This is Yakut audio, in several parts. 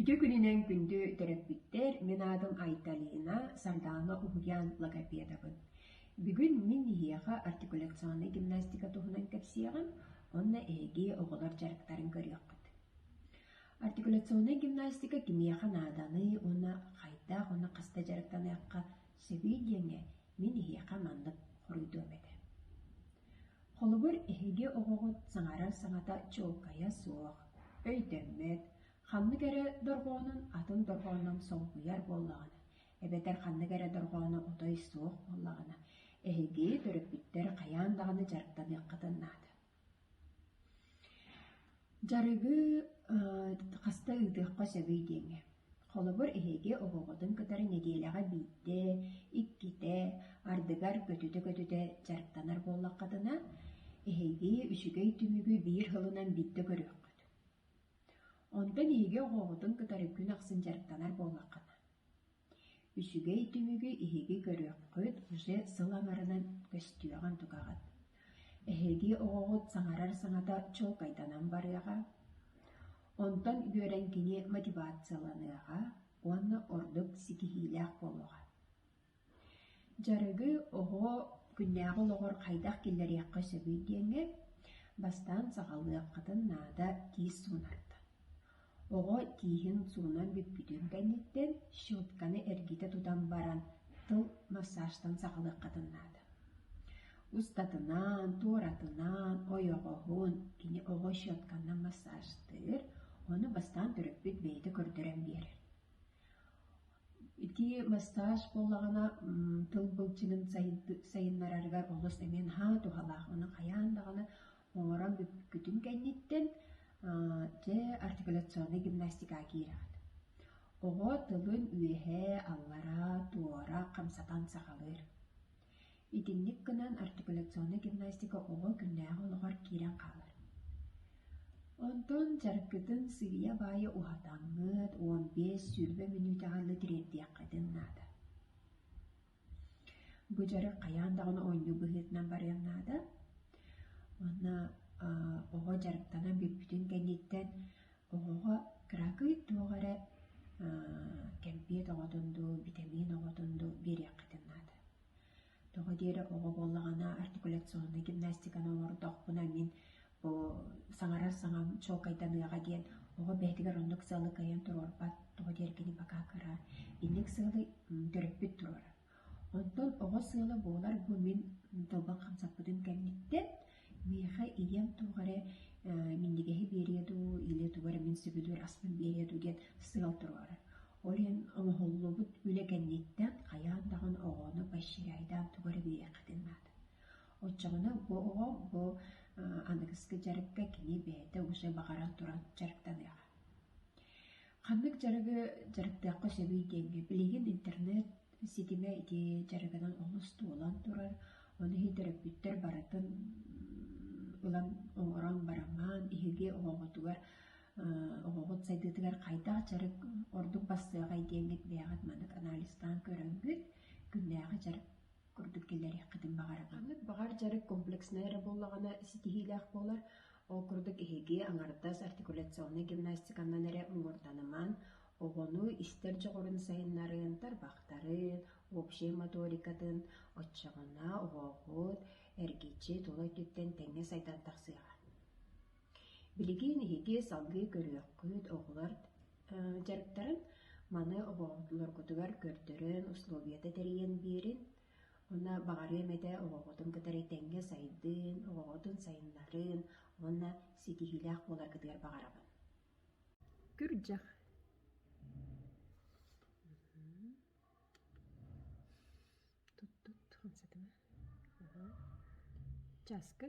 Ити күнүнэн күндү төрөппүттэр, мин аатым Айталина, Сардаана Уһуян логопедабын. Бүгүн мин эһиэхэ артикуляционнай гимнастика туһунан кэпсиэҕим, онно эһиги оҕолор дьарыктарын көрүөххүт. Артикуляционнай гимнастика кимиэхэ нааданый уонна хайдах уонна хаста дьарыктаныахха сөбүй диэҥҥэ мин эһиэхэ маннык хоруйдуом этэ. Холобур, эһиги оҕоҕут саҥарар саҥата чуолкайа суох, өйдөммөт, Ханнык эрэ дорҕоонун атын дорҕоонун солбуйар буоллаҕына, эбэтэр ханнык эрэ дорҕоону отой суох буоллаҕына, эһиги төрөппүттэр хайаан даҕаны дьарыктаныаххытын наада. Дьарыгы хаста ыытыахха сөбүй диэҥҥэ. Холобур, эһиги оҕоҕутун кытары нэдиэлэҕэ биирдэ, иккитэ, ардыгар көтүтэ-көтүтэ дьарыктанар буоллаххытына, эһиги үчүгэй түмүгү биир сылынан биирдэ көрүөххүт. Онтон эһиги оҕоҕутун кытары күн ахсын дьарыктанар буоллаххына, үчүгэй түмүгү эһиги көрүөххүт уже сыл аҥарынан көстүөҕүн-тугаҕын. Эһиги оҕоҕут саҥарар саҥата чуолкайданан барыаҕа, онтон үөрэн кини мотивацияланыаҕа уонна ордук ситиһиилээх буолуоҕа Дьарыгы оҕо күннээҕи олоҕор хайдах киллэриэххэ сөбүй диэҥҥэ бастаан саҕалыаххытын наада тиис суунарда. Оҕо тииһин суунан бүппүтүн кэнниттэн щетканы эргитэ тутан баран тыл массажтан саҕалыаххытын наада. Устатынан, туоратынан, ойоҕоһун кини оҕо щетканнан массажтыыр, ону бастаан төрөппүт бэйэтэ көрдөрөн биэрэр. Ити массаж буоллаҕына тыл былчыҥын сайыннарарыгар олус эмиэ наһаа туһалаах. Ону хайаан даҕаны оҥорон бүппүккүтүн кэнниттэн дьэ артикуляционнай гимнастикаҕа киирэҕит. Оҕо тылын үөһэ, аллара, туора хамсатан сахалыыр. Итинник гынан артикуляционная гимнастика оҕо күннээҕи олоҕор киирэн хаалар. Онтон чаркытын сыыйа-баайа уһатаҥҥыт уон биэс сүүрбэ мүнүүтэҕэ тириэрдиэххитин наада. Бу дьарык хайаан даҕаны оонньуу быһыытынан барыан наада. Манна оҕо дьарыктанан бүппүтүн кэнниттэн Оҕоҕо кыракый туох эрэ кэмпиэт оҕотун дуу, битэмиин оҕотун дуу биэриэххитин наада. Тоҕо диэри оҕо буоллаҕына артикуляционнай гимнастиканы оҥордохпуна мин бу саҥарар саҥам чуолкайданыаҕа диэн оҕо бэйэтигэр оннук сыалы кыайан туруорбат, тоҕо диэри кини пока кыра, инник сыалы төрөппүт туруорар. Оттон оҕо сыала буолар бу мин долган хамсаппытым кэнниттэн миэхэ ийэм туох эрэ э минньигэһи биэриэ дуу, ийэ тугу эрэ мин сөбүлүүр аспын биэриэ дуу диэн сыал туруора. Ол иһин оҥоһуллубут үлэ кэнниттэн хайаан даҕаны оҕону поощряйдаан тугу эрэ биэриэххитин наада. Оччоҕуна бу оҕо бу э аныгыскы дьарыкка кини бэйэтэ уже баҕаран туран дьарыктаныаҕа. Ханнык дьарыгы дьарыктыахха сөбүй диэҥҥэ билигин интернет ситимэ ити дьарыгынан олус туолан турар. Ону иһин төрөппүттэр барытын ылан оҥорон барамаан иһиги оҕоҕутугар оҕоҕут сайдыытыгар хайдах дьарык ордук бассыаҕай диэҥҥит бэйэҕит маннык анализтаан көрөҥҥүт, күннээҕи дьарык курдук киллэриэххитин баҕарабын. Ханнык баҕар дьарык комплекснай эрэ буоллаҕына ситиһиилээх буолар. Ол курдук эһиги аҥардас артикуляционнай гимнастиканнан эрэ муҥурданымаҥ, оҕону истэр дьоҕурун сайыннарыын, тарбахтарын, общай моторикатын, оччоҕуна оҕоҕут эргиччи тула өттүттэн тэҥҥэ сайдан тахсыаҕа. Билигин иһити салгыы көрүөххүт, оҕолор дьарыктарын маны оҕолоргутугар көрдөрөн, условията тэрийэн биэрин. Уонна баҕарыам этэ оҕоҕутун кытары тэҥҥэ сайдыын, оҕоҕутун сайыннарыын уонна ситиһиилээх буоларгытыгар баҕарабын. Күрдьэх Часкы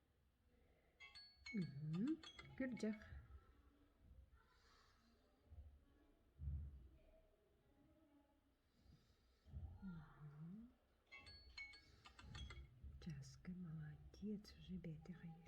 Күрдьэх часка молодец уже бэтэх эйэр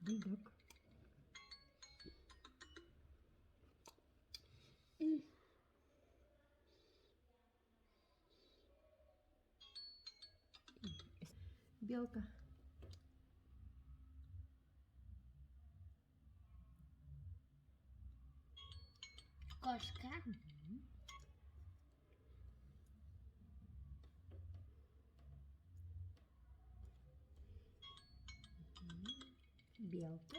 Дыдык белка Кошка белка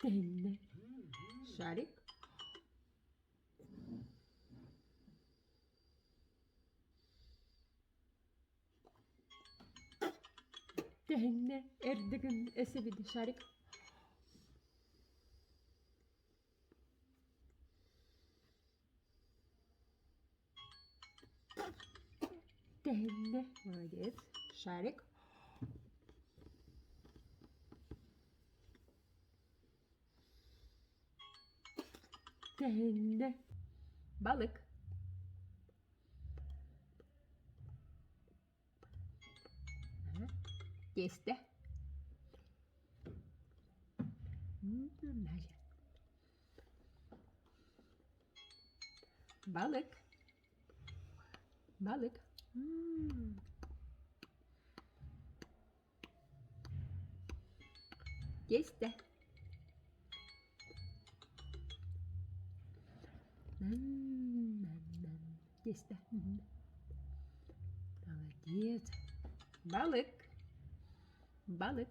Тэһиннэ. Шарик? Тэһиннэ. Эрдэ гын эсэбит Шарик. тэһиннэ молодец шарик тэһиннэ балык тесто значит балык балык Тиэстэ Тиэстэ Молодец Балык Балык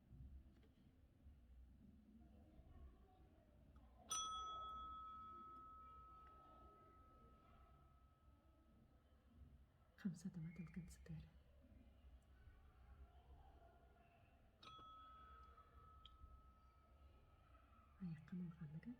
хамсатыма тылгын сытыары айаххын улаханнык эт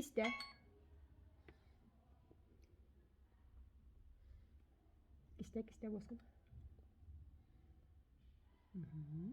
Истэ Истэ кистэ буоскун. Мм.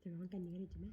Чабаҕын кэннигэр идьимэҥ